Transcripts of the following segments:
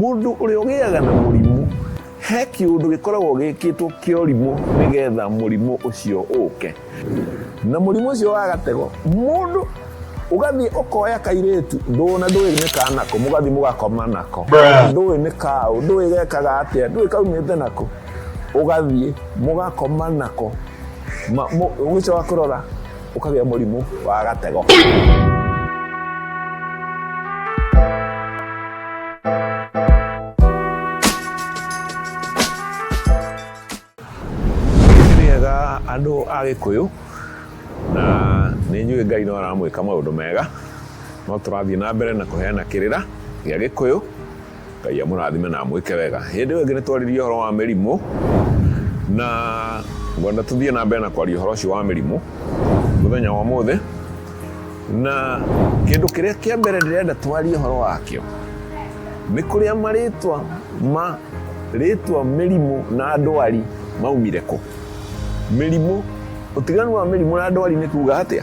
Mũndũ ũrĩa ũgĩaga na mũrimũ, he kĩũndũ gĩkoragwo gĩkĩtwo kĩa ũrimũ nĩgetha mũrimũ ũcio ũke. Na mũrimũ ũcio wa gatego, mũndũ ũgathiĩ ũkoya kairĩtu ndũna ndũĩ nĩ ka nako mũgathiĩ mũgakoma nako ndũĩ nĩ kaũ ndũĩ gekaga atĩa ndũĩ kaumĩte nako ũgathiĩ mũgakoma nako ũgĩcoka kũrora ũkagĩa mũrimũ wa gatego rĩega andũ a gĩkũyũ na nĩ njũĩ ngai no aramwĩka maũndũ mega no tũrathiĩ na mbere na kũheana kĩrĩra gĩa gĩkũyũ Ngai amũrathime na amwĩke wega. Hĩndĩ ĩyo ĩngĩ nĩ twarĩrie ũhoro wa mĩrimũ na ngwenda tũthiĩ na mbere na kwaria ũhoro ũcio wa mĩrimũ mũthenya wa ũmũthĩ na kĩndũ kĩrĩa kĩa mbere ndĩrenda twarie ũhoro wakĩo nĩ kũrĩa marĩtwa ma rĩtwa mĩrimũ na ndwari maumire kũ mĩrimũ ũtiganu wa mĩrimũ na ndwari nĩ kuga atĩa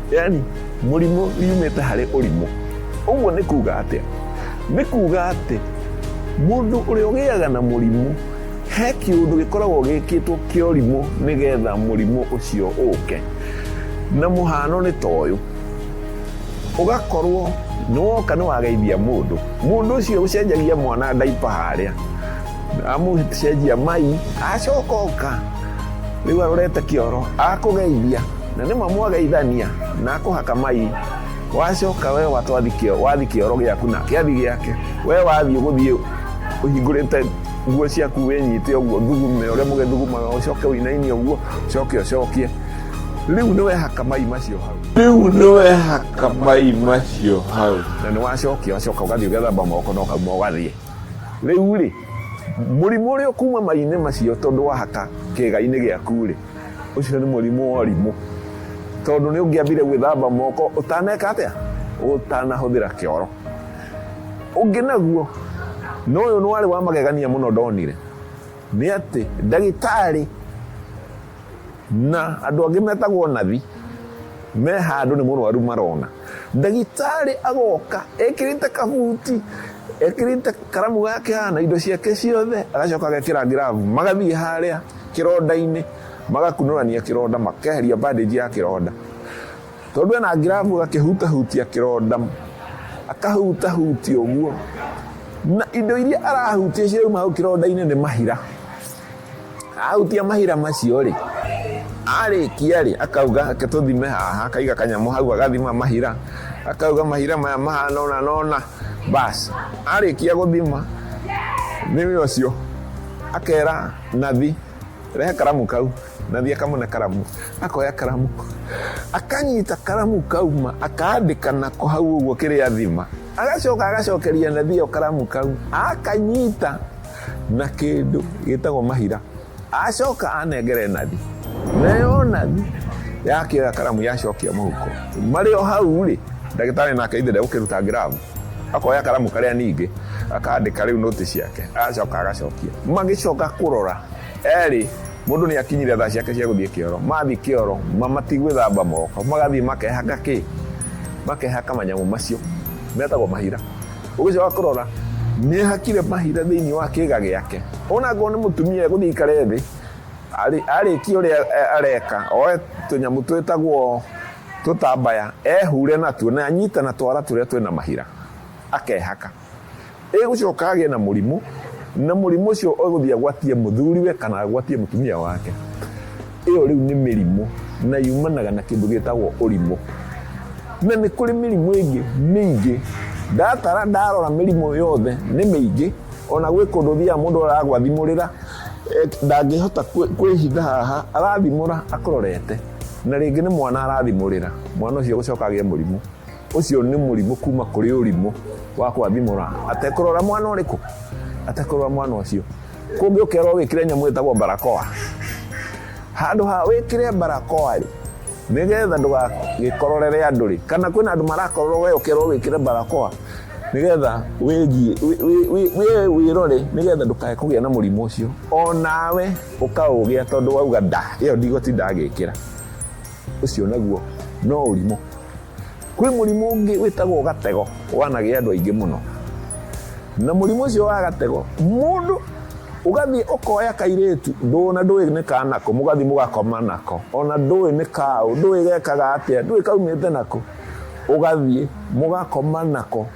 Yaani mũrimũ yumĩte harĩ ũrimũ. Ũguo nĩ kuga atĩa? Nĩ kuga atĩ mũndũ ũrĩa ũgĩaga na mũrimũ he kĩũndũ gĩkoragwo gĩkĩtwo kĩa ũrimũ nĩgetha mũrimũ ũcio ũke. Na mũhano nĩ ta ũyũ, ũgakorwo nĩ woka nĩ wageithia mũndũ, mũndũ ũcio ũcenjagia mwana ndaipa harĩa, amũcenjia mai, acoka oka rĩu arorete kĩoro akũgeithia, na nĩ mamwageithania na akũhaka mai wacoka we watwathi kĩo- wathi kĩoro gĩaku na kĩathi gĩake we wathiĩ gũthiĩ ũhingũrĩte nguo ciaku wĩnyite ũguo thugume ũrĩa mũgĩthugumaga ũcoke ũinainie ũguo ũcoke ũcokie rĩu nĩ wehaka mai macio hau rĩu nĩ wehaka mai macio hau na nĩ wacokia wacoka ũgathiĩ ũgethamba moko na ũkauma ũgathiĩ rĩu rĩ mũrimũ ũrĩa ũkuma mai-inĩ macio tondũ wahaka kĩga-inĩ gĩaku rĩ Ũcio nĩ mũrimũ wa ũrimũ. Tondũ nĩ ũngĩambire gwĩthamba moko ũtaneka atĩa? Ũtanahũthĩra kĩoro. Ũngĩ naguo, na ũyũ nĩ warĩ wa magegania mũno ndonire, nĩ atĩ ndagĩtarĩ na andũ angĩ metagwo nathi me handũ nĩ mũrwaru marona. Ndagĩtarĩ agoka ekĩrĩte kabuti, ekĩrĩte karamu gake haha na indo ciake ciothe, agacoka agekĩra ngirabu, magathiĩ harĩa. kĩronda-inĩ magakunũrania kĩronda makeheria bandage ya kĩronda tondũ ena ngirabu agakĩhutahutia kĩronda akahutahutia ũguo na indo iria arahutia cirauma hau kĩronda-inĩ nĩ mahira ahutia mahira macio rĩ arĩkia rĩ akauga tũthime haha akaiga kanyamũ hau agathima mahira akauga mahira maya mahana ona nona basi arĩkia gũthima nĩ ũcio akera Nathi, rehe karamu kau. Nathi akamũne karamu, akoya karamu, akanyita karamu kau ma akaandĩka nako hau ũguo kĩrĩa thima, agacoka agacokeria Nathi ĩyo karamu kau, akanyita na kĩndũ gĩtagwo mahira, acoka anengere Nathi, nayo Nathi yakĩoya karamu yacokia mũhuko, marĩ o hau rĩ, ndagĩtarĩ nake ithe ndegũkĩruta ngirabu. akoya karamu karia ningi akandika riu noti ciake acoka agacokia magicoka kurora eri mundu ni akinyire thaa ciake cia guthie kioro mathi kioro matigwithamba moko magathie makehaka ki makehaka manyamu macio metagwo mahira ugicoka kurora ni hakire mahira thiini wa kiga giake ona ngo ni mutumia eguthie ikare thi arikia uria areka oe tunyamu twitagwo Tũtambaya, ehure natuo na anyite na twara tũrĩa twĩ na mahira, akehaka. Egũcoka agĩe na mũrimũ, na mũrimũ ũcio egũthiĩ agwatie mũthuriwe kana agwatie mũtumia wake. Ĩyo rĩu nĩ mĩrimũ na yumanaga na kĩndũ gĩtagwo ũrimũ. Na nĩ kũrĩ mĩrimũ ĩngĩ mĩingĩ. Ndatara ndarora mĩrimũ yothe nĩ mĩingĩ, ona gwĩ kũndũ thiaga mũndũ aragwathimũrĩra, ndangĩhota kwĩhitha haha, arathimũra akũrorete. na rĩngĩ nĩ mwana arathimũrĩra mwana ũcio gũcoka agĩe mũrimũ ũcio nĩ mũrimũ kuma kũrĩ ũrimũ wa kwathimũra atekũrora mwana ũrĩkũ atekũrora mwana ũcio kũngĩ ũkerwo wĩkĩre nyamũ ĩtagwo barakoa handũ ha wĩkĩre barakoa rĩ nĩgetha ndũgagĩkororere andũ rĩ kana kwĩna andũ marakororwo we ũkerwo wĩkĩre barakoa nĩgetha wĩgie wĩrore nĩgetha ndũkae kũgĩa na mũrimũ ũcio onawe ũkaũgĩa tondũ wauga nda ĩyo ndigũtinda ngĩkĩra ũcio naguo no ũrimũ kwĩ mũrimũ ũngĩ wĩtagwo gatego wanagĩa andũ aingĩ mũno na mũrimũ ũcio wa gatego mũndũ ũgathiĩ ũkoya kairĩtu ndũna ndũĩ nĩ kanako mũgathiĩ mũgakoma nako ona ndũĩ nĩ kaũ ndũĩ gekaga atĩa ndũĩ kaumĩte nako ũgathiĩ mũgakoma nako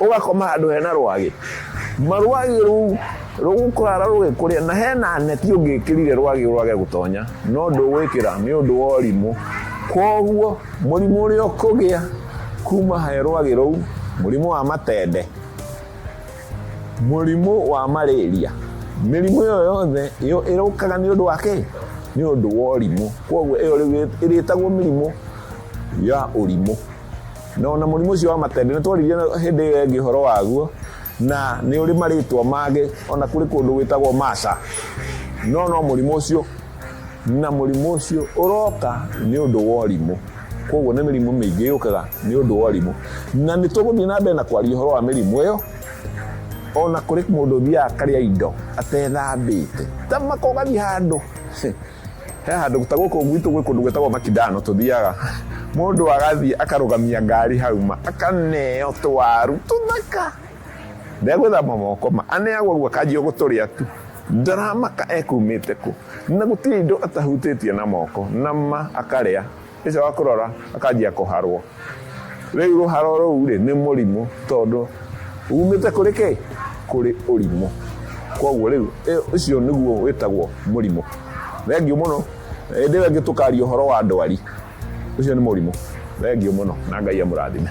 ũgakoma handũ hena rwagĩ ma rwagĩ rũu rũgũkara rũgĩkũrĩa na hena neti ũngĩkĩrire rwagĩ rwage gũtonya no ndũgwĩkĩra nĩ ũndũ wa ũrimũ koguo mũrimũ ũrĩa ũkũgĩa kuma he rwagĩ rũu mũrimũ wa matende mũrimũ wa marĩria mĩrimũ ĩyo yothe ĩrũkaga nĩ ũndũ wa kĩ nĩ ũndũ wa ũrimũ koguo ĩyo rĩu ĩrĩtagwo mĩrimũ ya ũrimũ Na ona mũrimũ ũcio wa matende nĩ twaririe hĩndĩ ĩyo ĩngĩ ũhoro waguo na nĩ ũrĩ marĩtwa mangĩ ona kũrĩ kũndũ gwĩtagwo Masa no no mũrimũ ũcio na mũrimũ ũcio ũroka nĩ ũndũ wa ũrimũ koguo nĩ mĩrimũ mĩingĩ yũkaga nĩ ũndũ wa ũrimũ na nĩ tũgũthiĩ na mbere na kwaria ũhoro wa mĩrimũ ĩyo ona kũrĩ mũndũ ũthiaga akarĩa indo atethambĩte tamaka ũgathiĩ handũ He handũ ta gũkũ gwitũ gwĩ kũndũ gwĩtagwo Makindano tũthiaga, mũndũ agathiĩ akarũgamia ngari hau ma, akaneo tũwaru tũthaka, ndegwĩthamba moko ma, aneagwo ũguo akanjia gũtũrĩa tu, ndaramaka ekumĩte kũ, na gũtirĩ indo atahutĩtie na moko, na ma akarĩa. Ĩca wa kũrora akanjia kũharwo. Rĩu rũharo rũu rĩ, nĩ mũrimũ tondũ umĩte kũrĩ kĩ? Kũrĩ ũrimũ. Kwoguo rĩu ũcio nĩguo wĩtagwo mũrimũ. Thengiũ mũno. Hĩndĩ ĩyo ĩngĩ tũkaria ũhoro wa ndwari. Ũcio nĩ mũrimũ. Thengiũ mũno na Ngai amũrathime.